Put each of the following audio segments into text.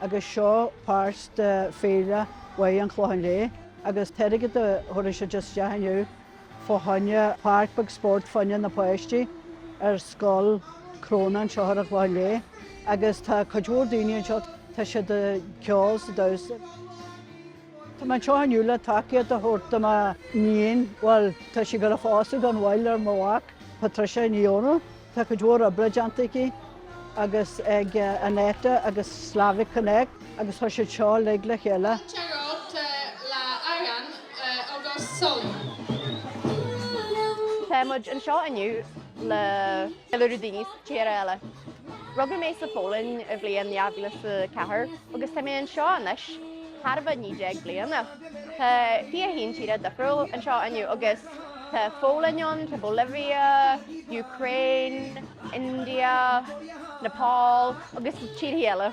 Agus seo páirt de Féile Mháire an Chlocháin Léith agus an t-airgead a thabharfaidh siad isteach inniu fá choinne páirc bheag spóirt fá choinne na páistí ar Scoil Chróine anseo ar an Chlochán Léith agus tá cuid mhór daoine anseo tá siad ag ceol is ag damhsa. Tá mé anseo inniu le tacaíocht a thabhairt do mo níon, bhuel, tá sí ag gabháil a phósadh gan mhoill ar mo mhac, Patricia Ní Dhomhnaill. Tá cuid mhór oibre déanta aici agus ag Annetta agus Slavic Connect agus tá siad seo uilig le chéile. Teangacha le Adhán agus Sol. Tá muid anseo inniu le. Ina rud níos géire eile. Rugadh mé sa Pholainn i bhliain dhá mhíle is a ceathair agus tá mé anseo anois chóir a bheith naoi déag bliana. Tá fiche haon tíre difriúil anseo inniu agus tá an Pholainn ann, tá Bolivia, Ukraine, India, Nepal agus tíorthaí eile.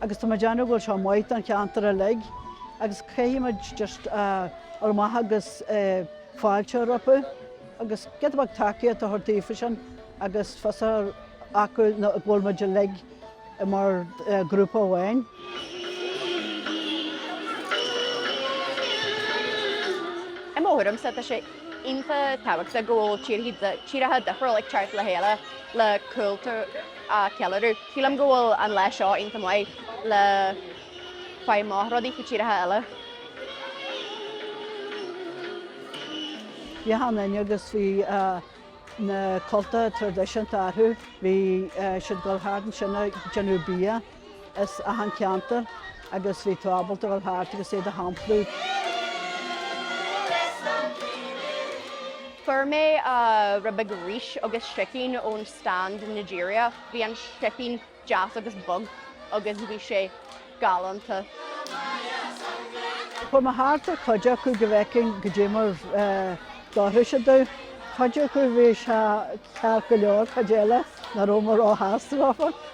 agus tá mé ag déanamh go bhfuil seo maith don cheantar uilig agus caithfidh muid just a dhul amach agus fáilte rompu agus giota beag tacaíocht a thabhairt daofa sin agus fios a chur acu go bhfuil muid uilig mar ghrúpa amháin. I mo thuairimse tá sé iontach tábhachtach go bhfuil tíortha difriúla ag teacht le chéile le cultúr a cheiliúradh. Sílim go bhfuil an lá seo iontach maith le faigh amach rudaí faoi tíortha eile. Bhí achan duine ann agus bhí na cultacha traidisiúnta orthu. Bhí siad ag dul thart ansin ag déanamh bia. as achan ceantar agus bhí tú ábalta dhul thart agus iad a shamplú. Fuair mé rud beag rís agus sicín ón stand Nigeriach. Bhí an sicín deas agus bog agus bhí sé galánta. Chuaigh mé thart ar chuid acu go bhfeicfinn goidé mar a d'fhóirfeadh siad dom. Cuid acu bhí sé ceart go leor, cuid eile ní raibh mé ró-shásta leofa.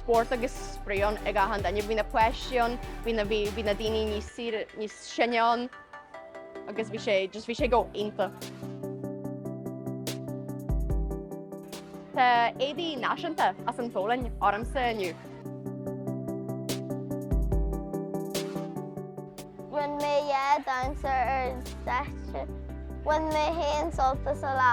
spórt agus spraoi ann ag achan duine. Bhí na páistí ann, bhí na, bhí, bhí na daoine níos saoire, níos sine ann agus bhí sé, just bhí sé go hiontach. Tá éadaí náisiúnta as an Pholainn ormsa inniu. Rinne mé dhá damhsa ar an stáitse. Bhain mé an-sult as an lá.